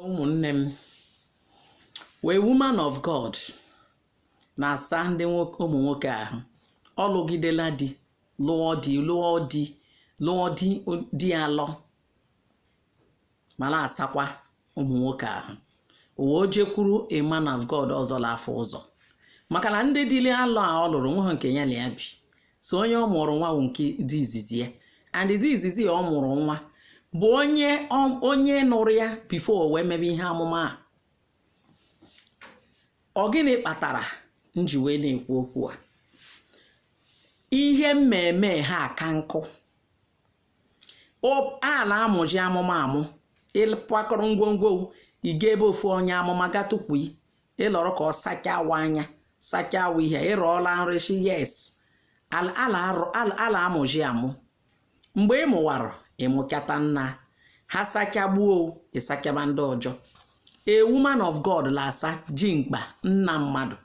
ụmụnne m wee woman of god na-asa ndị ụmụ nwoke ahụ ọ lụgidela di lụọ di lụọ di lụọ di di alọ ma na-asakwa ụmụ nwoke ahụ o wee jekwuru a man of god ọzọ na-afụ ụzọ maka na ndị di li alọ a ọ lụrụ nweghị nke ya na ya bi so onye ọ mụrụ nwa bụ nke di izizi ya and di izizi ya ọ mụrụ nwa bụ onye onye nụrụ ya before o wee mebe ihe amụma a ọ gịnị kpatara m ji wee na-ekwu okwu a ihe mmemme ha ka m kwuo a na-amụji amụma amụ ị kwakọrọ ngwongwo ị ga ebe ofu onye amụma ga tukwu ị lọrọ ka ọ sachawa anya sachawa ihe ị rọọla nrọ sị yes ala ala arụ- ala a la-amụji amụ mgbe ị mụwara ị mụchata nna ha sachagbuo ị sachaba ndị ọjọ a woman of god la-asaji mkpa nna mmadụ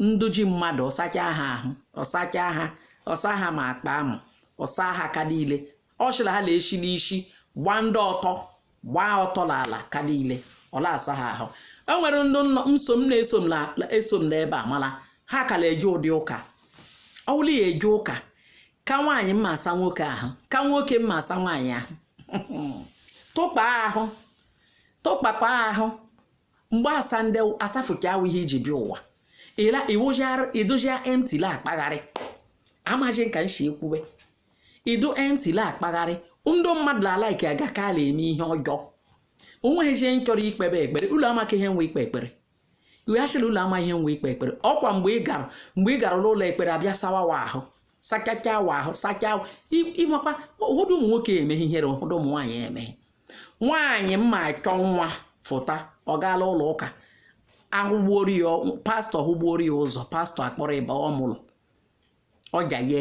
ndị di mmadụ ọ sachaa ha ahụ ọ sachaa ha ọ saa ha ma akpa amụ ọ saa ha aka niile ọ sịrị ha na-esi n'isi gbaa ndị ọtọ gbaa ọtọ n'ala ka niile ọ na-asa ha ahụ e nwere ndị nso m na-eso m na-eso m n'ebe a mana ha ka na-eje ụdị ụka ọ bụrụ ya eje ụka ka nwaanyị ma-asa nwoke ahụ ka nwoke ma-asa nwaanyị ahụ tụkpa ahụ tụkpakpa ahụ mgbe asa ndị a safucha ahụ ihe i ji bịa ụwa ịla iwụjara ị dụjia empty la-akpagharị amaghị m ka m si ekwuwe ị dụ empty la-akpagharị ndị mmadụ la-alike aga ka a la-eme ihe ọjọọ o nweghịzi onye chọrọ ikpebe ekpere ulu amaka ihe wụ ikpe ekpere iweghachila ulu ama ihe wụ ikpe ekpere ọ kwa mgbe ị gara mgbe ị gara n'ụlọ ekpere a bịa sawa wa ahụ sachacha wa ahụ sacha ị makwa ụfọdụ ụmụ nwoke emeghị ihere ụfọdụ ụmụ nwaanyị emeghị nwaanyị ma-achọ nwa fụta ọ gaa l'ụlọ ụka a hụgbuoro ya pastọ hụgbuoro ya ụzọ pastọ akpọrọ ịba ọ mụrụ ọja ye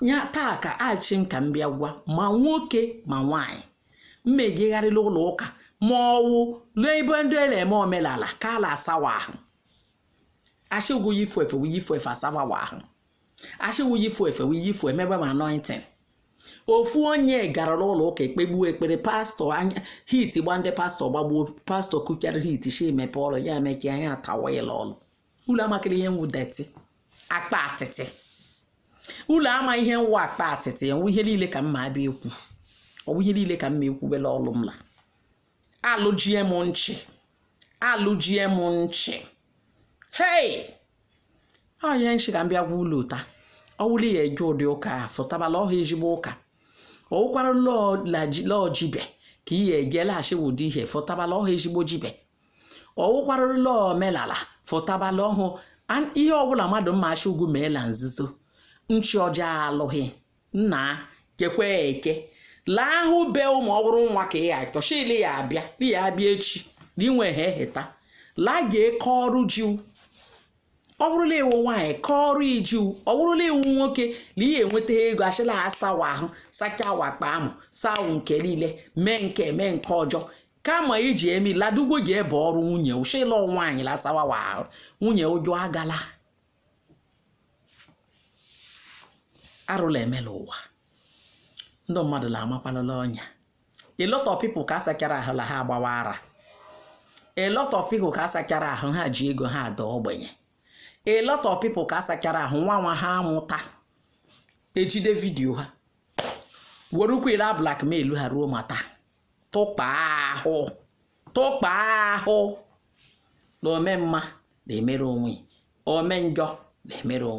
ya taa ka asị m ka m bịa gwa ma nwoke ma nwaanyị ma-ejegharị l'ụlọ ụka ma ọ wụ l'ebe ndị a na-eme omenala ka a la-asa wa ahụ a sị gwụ yifu efe wụ yifu efe a sawa ahụ a sị gwụ yifu efe wụ yifu emebe ma anointing ofu onye gara n'ụlọ ụka ekpegbuo ekpere pastọ anya heat gba ndị pastọ gbagbuo pastọ kuchara heat shi emepe ọlụ ya emeke anya atawa ịlọ ọlụ ulu amakịrị ihe wụ dirty akpa atịtị ụlụ ama ihe wụ akpa atịtị enwe ihe niile ka mma abịa ekwu ọ wụ ihe niile ka mma ekwubela ọlụ m la alụjie m nchị alụjie m nchị hei ọ ihe nchị ka m bịa gwa ụlụ taa ọ wụrụ la ị ya eje ụdị ụka a fụtabala ọhụụ ezigbo ụka ọ wụkwara la ọ jibe ka ị ya eje laghachi ụdị ihe fụtabala ọhụụ ezigbo jibe ọ wụkwara la ọ omenala fụtabala ọhụụ ihe ọbụla mmadụ ma asị gị mee la nzuzo nchi ọjọọ alụghị nna kekwe eke laa ahụ be ụmụ ọ wụrụ nwa ka ị achọchili ya abịa di ya abịa echi na inwe ha eheta laa ga eke ọrụ jiwu ọ bụrụ la ị wụ nwaanyị kọọrọ iju ọ bụrụ la ị wụ nwoke na ị ya enweta ego achịla asawa ahụ sacha wakpa amụ sawu nke niile mee nke mee nke ọjọọ kama iji emi ladugwo ji ebe ọrụ nwunye ụshịlọ nwaanyị lasawawa nwunye ụjọ agala arụ la eme la ụwa ndị mmadụ la amakwalala ọnya a lot of people ka asachara ahụ la ha agbawa ara a lot of people ka asachara ahụ ha ji ego ha ada ogbenye a lot of people ka asachara ahụ nwa nwa ha amụta ejide video ha werekwa la blackmail ha ruo ma taa tụkpa ahụ tụkpa ahụ na ome mma na-emere onwe ome njọ na-emere onwe